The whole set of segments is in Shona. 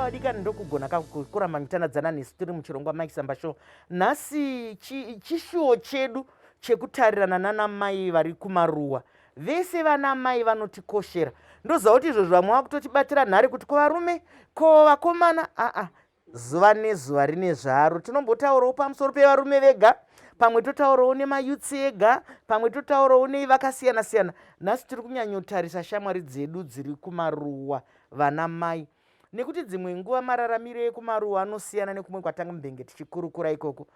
vadikani ndokugona kuramba michanadzana nesu tiri muchirongwa mike samba show nhasi chishuwo chedu chekutarirana nanamai vari kumaruwa vese vana mai vanotikoshera ndoziva kuti izvozvo vamwe vakutotibatira nhare kuti ko varume ko vakomana aa zuva nezuva rine zvaro tinombotaurawo pamusoro pevarume vega pamwe totaurawo nemayutsi ega pamwe totaurawo nei vakasiyana siyana nhasi tiri kunyanyotarisa shamwari dzedu dziri kumaruwa vana mai nekuti dzimwe nguva mararamiro ekumaruwa anosiyana nekumwe kwatanga mbenge tichikurukura ikoko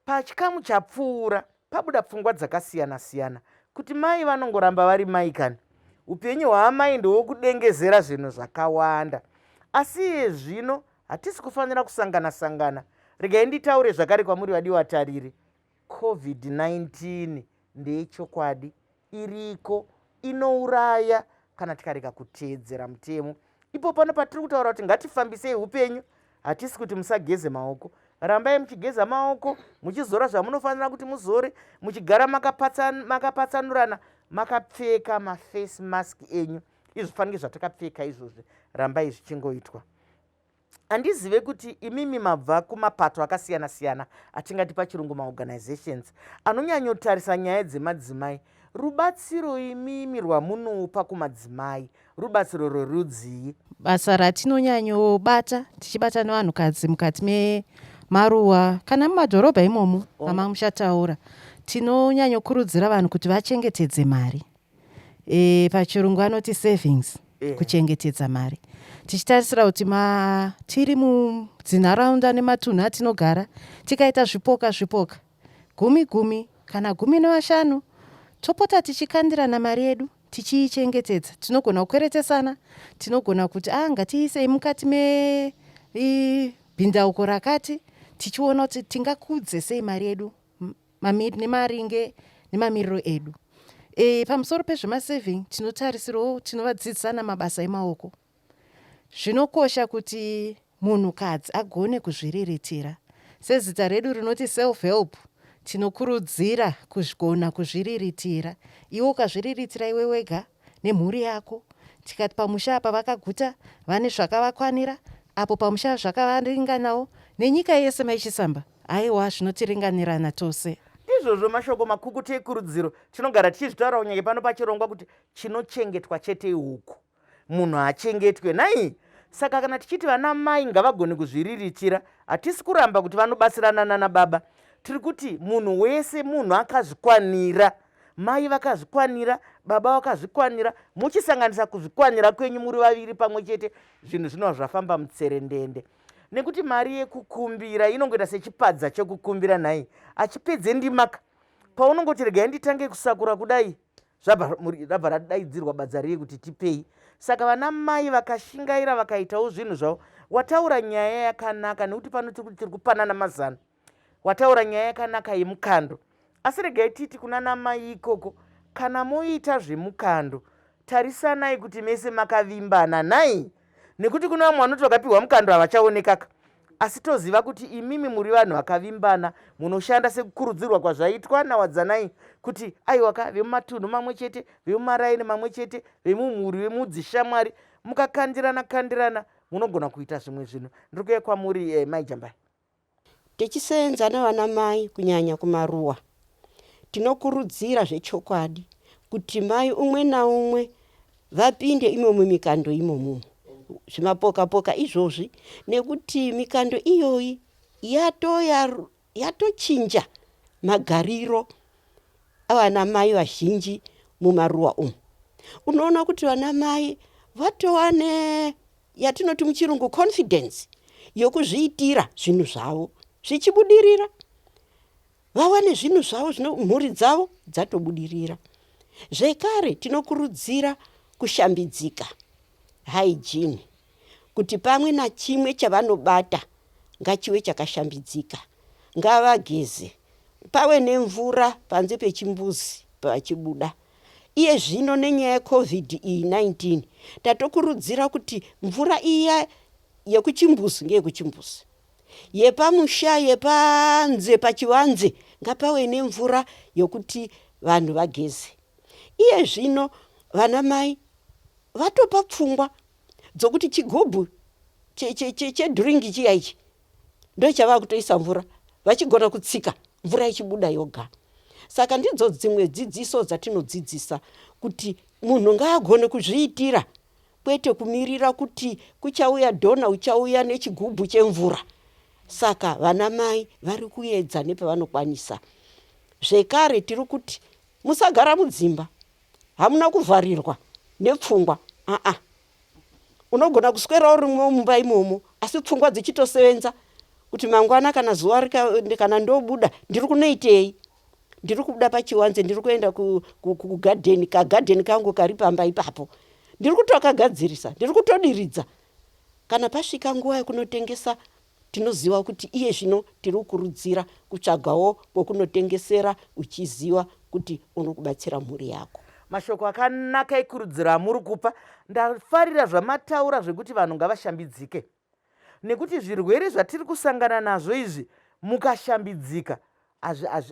pachikamu chapfuura Pabuda pfungwa dzakasiyana siyana kuti mai vanongoramba vari mai kani upenyu hwaamai ndowokudengezera zvinhu zvakawanda asi iye zvino hatisi kufanira kusangana sangana regai nditaure zvakare kwamuri vadiwa tariri covid-19 ndeyechokwadi iriko inouraya kana tikarega kuteedzera mutemo ipo pano patiri kutaura kuti ngatifambisei upenyu hatisi kuti musageze maoko rambai muchigeza maoko muchizora zvamunofanira kuti muzore muchigara makapatsanurana makapfeka maface mask enyu izvifanike zvatakapfeka izvozvi rambai zvichingoitwa handizive kuti imimi mabva kumapato akasiyana-siyana atingati pachirungu maorganizations anonyanyotarisa nyaya dzemadzimai rubatsiro imimi rwamunopa kumadzimai rubatsiro rwerudzii basa ratinonyanyobata tichibata nevanhukadzi mukati memaruwa kana mumadhorobha imomo oh. amang muchataura tinonyanyokurudzira vanhu kuti vachengetedze mari e, pachirungu anoti savings yeah. kuchengetedza mari tichitarisira kuti ma tiri mudzinharaunda nematunhu atinogara tikaita zvipoka zvipoka gumi gumi kana gumi nevashanu topota tichikandirana mari yedu tichiichengetedza tinogona kukweretesana tinogona kuti a ah, ngatiisei mukati mebhindauko rakati tichiona kuti tingakudze sei mari yedu mamir, nemaringe nemamiriro edu e, pamusoro pezvemasaving tinotarisirawo tinovadzidzisa namabasa emaoko zvinokosha kuti munhukadzi agone kuzviriritira sezita redu rinoti self help tinokurudzira kugona kuzviriritira iwe ukazviriritira iwe wega nemhuri yako tikati pamusha apa vakaguta vane zvakavakwanira apo pamusha zvakavaringanawo nenyika yese maichisamba Aiwa, zvinotiringanirana tose. Ndizvozvo mashoko makukutu ekurudziro. Tinogara tichizvitaura kunyange pano pachirongwa kuti chinochengetwa chete ihuku. Munhu haachengetwe, nhai? Saka kana tichiti vana mai ngavagone kuzviriritira, hatisi kuramba kuti vanobatsirana nana baba. Tiri kuti munhu wese munhu akazvikwanira. Mai vakazvikwanira, baba vakazvikwanira, muchisanganisa kuzvikwanira kwenyu muri vaviri pamwe chete, zvinhu zvinova zvafamba mutserendende. nekuti mari yekukumbira inongoita sechipadza chekukumbira nhai achipedze ndimaka paunongoti regai nditange kusakura kudai rabva radaidzirwa badza riye kuti tipei saka vana mai vakashingaira vakaitawo zvinhu zvavo wataura nyaya yakanaka nekuti pano tiri kupanana mazano Wataura nyaya yakanaka yemukando asi regai titi kuna namai ikoko kana moita zvemukando tarisanai kuti mese makavimbana nhai nekuti kune vamwe vanoti vakapiwa mukando havachaonekaka asi toziva kuti imimi muri vanhu vakavimbana munoshanda sekukurudzirwa kwazvaitwa nawadzanai kuti aiwaka vemumatunhu mamwe chete vemumaraini mamwe chete vemumhuri vemudzishamwari mukakandirana kandirana munogona kuita zvimwe zvinhu ndiri kuya kwamuri eh, maijambai Tichiseenza navana mai kunyanya kumaruwa tinokurudzira zvechokwadi kuti mai umwe naumwe vapinde imomu mikando imomu zvimapoka poka izvozvi nekuti mikando iyoyi yato yatochinja magariro avana mai vazhinji mumaruwa umu unoona kuti vana mai vatowane yatinoti muchirungu confidence yokuzviitira zvinhu zvavo zvichibudirira vawane zvinhu zvavo zvino mhuri dzavo dzatobudirira zvekare tinokurudzira kushambidzika hygiene kuti pamwe nachimwe chavanobata ngachiwe chakashambidzika ngavageze pawe nemvura panze pechimbuzi pachibuda Iye zvino nenyaya yeCovid iyi 19 tatokurudzira kuti mvura iya yekuchimbuzi ngeyekuchimbuzi. Yepamusha yepanze pachivanze ngapave nemvura yekuti vanhu vageze. Iye zvino vanamai vatopa pfungwa dzokuti chigubhu chedhiringi chiya ichi ndochavakutoisa mvura vachigona kutsika mvura ichibuda yoga saka ndidzo dzimwe dzidziso dzatinodzidzisa kuti munhu ngaagone kuzviitira kwete kumirira kuti kuchauya dhona uchauya nechigubhu chemvura saka vana mai vari kuedza nepavanokwanisa zvekare tiri kuti musagara mudzimba hamuna kuvharirwa nepfungwa aa unogona kuswera urimwo mumba imomo asi pfungwa dzichitosevenza kuti mangwana kana zuva rika- kana ndobuda ndiri kunoitei ndiri kubuda pachiwanze ndiri kuenda ku- ku- ku- kugadheni kagadheni kangu kari pamba ipapo ndiri kutokagadzirisa ndiri kutodiridza kana pasvika nguva yekunotengesa Tinoziva kuti iye zvino tiri kukurudzira kutsvagawo kwokunotengesera uchiziva kuti uri kubatsira mhuri yako. Mashoko akanaka ekurudziro amuri kupa. Ndafarira zvamataura zvekuti vanhu ngavashambidzike nekuti zvirwere zvatiri kusangana nazvo izvi mukashambidzika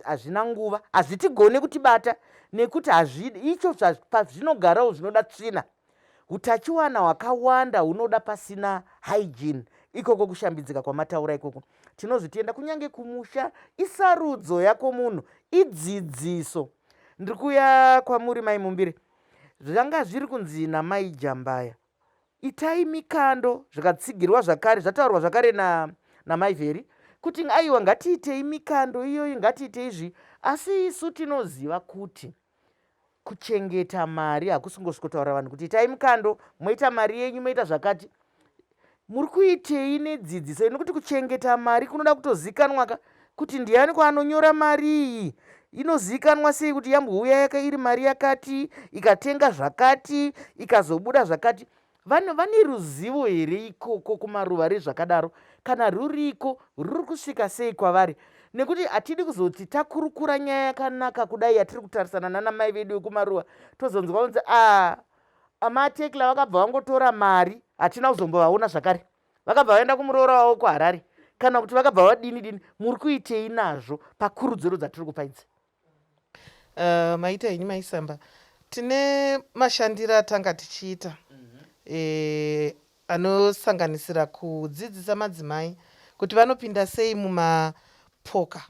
hazvina nguva hazvitigone kutibata nekuti hazvidi icho pazvinogarawo zvinoda tsvina utachiwana hwakawanda hunoda pasina hygiene ikoko kushambidzika kwamataura ikoko tinozvitenda kunyange kumusha isarudzo yako munhu idzidziso ndiri kuya kwamuri mai mumbiri zvanga zviri kunzi namai jambaya Itai mikando zvakatsigirwa zvakare zvataurwa zvakare na namai vheri kuti aiwa ngatiitei mikando iyoyi ngatiite izvi asi isu tinoziva kuti kuchengeta mari hakusingosvikotaura vanhu kuti itai mikando moita mari yenyu moita zvakati muri kuitei nedzidziso inokuti kuchengeta mari kunoda kutozikanwaka Kuti ndianiko anonyora mari iyi? Inozivikanwa sei kuti yambouya yaka iri mari yakati, ikatenga zvakati, ikazobuda zvakati? Vanhu vane ruzivo here ikoko kumaruva rezvakadaro? Kana ruriko, ruri kusvika sei kwavari? nekuti hatidi kuzoti takurukura nyaya yakanaka kudai yatiri kutarisana nana mai vedu vekumaruva tozonzwa kunzi a ah, amatekla vakabva vangotora mari hatina kuzombovaona zvakare vakabva vaenda kumuroora wavo kuharare kana kuti vakabva vadini dini muri kuitei nazvo pakurudziro dzatiri kupa idzi uh, maita henyu maisamba tine mashandiro atanga tichiita mhm. eh, anosanganisira kudzidzisa madzimai kuti vanopinda sei mumapoka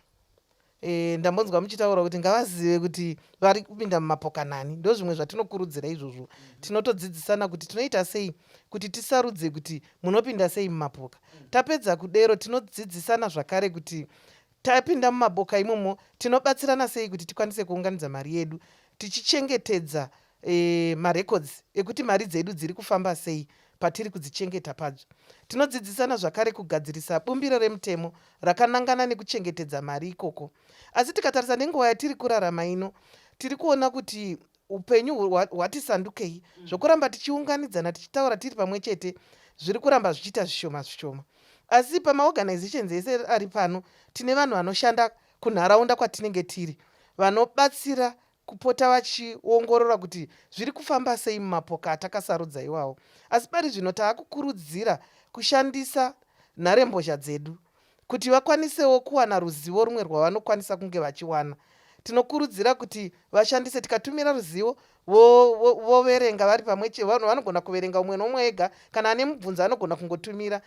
E, ndambonzwa muchitaura kuti ngavazive kuti vari kupinda mumapoka nani ndo zvimwe zvatinokurudzira izvozvo tinotodzidzisana kuti tinoita sei kuti tisarudze kuti munopinda sei mumapoka tapedza kudero tinodzidzisana zvakare kuti tapinda mumaboka imomo tinobatsirana sei kuti tikwanise kuunganidza mari yedu tichichengetedza e, marecords ekuti mari dzedu dziri kufamba sei patiri kudzichengeta padzo tinodzidzisana zvakare kugadzirisa bumbiro remutemo rakanangana nekuchengetedza mari ikoko asi tikatarisa nenguva yatiri kurarama ino tiri kuona kuti upenyu hwati sandukei mm. zvokuramba tichiunganidzana tichitaura tiri pamwe chete zviri kuramba zvichiita zvishoma zvishoma asi pamaorganizations ese ari pano tine vanhu vanoshanda kunharaunda kwatinenge tiri vanobatsira kupota vachiongorora kuti zviri kufamba sei mumapoka atakasarudza iwawo. Asi pari zvino tava kukurudzira kushandisa nharembozha dzedu kuti vakwanisewo kuwana ruzivo rumwe rwavanokwanisa kunge vachiwana. Tinokurudzira kuti vashandise tikatumira ruzivo voverenga vari pamwe chete. Vanhu vanogona kuverenga umwe nomwe ega. Kana ane mubvunzo anogona kungotumira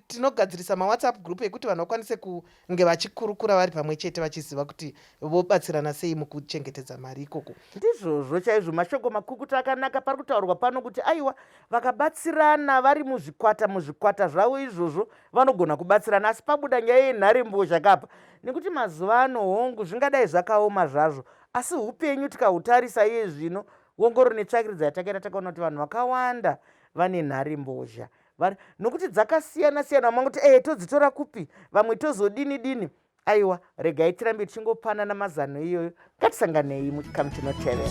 tinogadzirisa mawhatsapp group ekuti vanhu vakwanise kunge vachikurukura vari pamwe chete vachiziva kuti vobatsirana sei mukuchengetedza mari ikoko ndizvozvo chaizvo mashoko makukuta akanaka pari kutaurwa pano kuti aiwa vakabatsirana vari muzvikwata muzvikwata zvavo izvozvo vanogona kubatsirana asi pabuda nyaya yenhare mbozha kapa nekuti mazuva ano hongu zvingadai zvakaoma zvazvo asi upenyu tikahutarisa iye zvino wongoro netsvakiridzo yatakaita takaona kuti vanhu vakawanda vane nhare mbozha vari nokuti dzakasiyana siyana vamwe kuti ee todzitora kupi vamwe tozodini dini aiwa regai tirambe tichingopanana mazano iyoyo ngatisanganei muchikamu chinotevera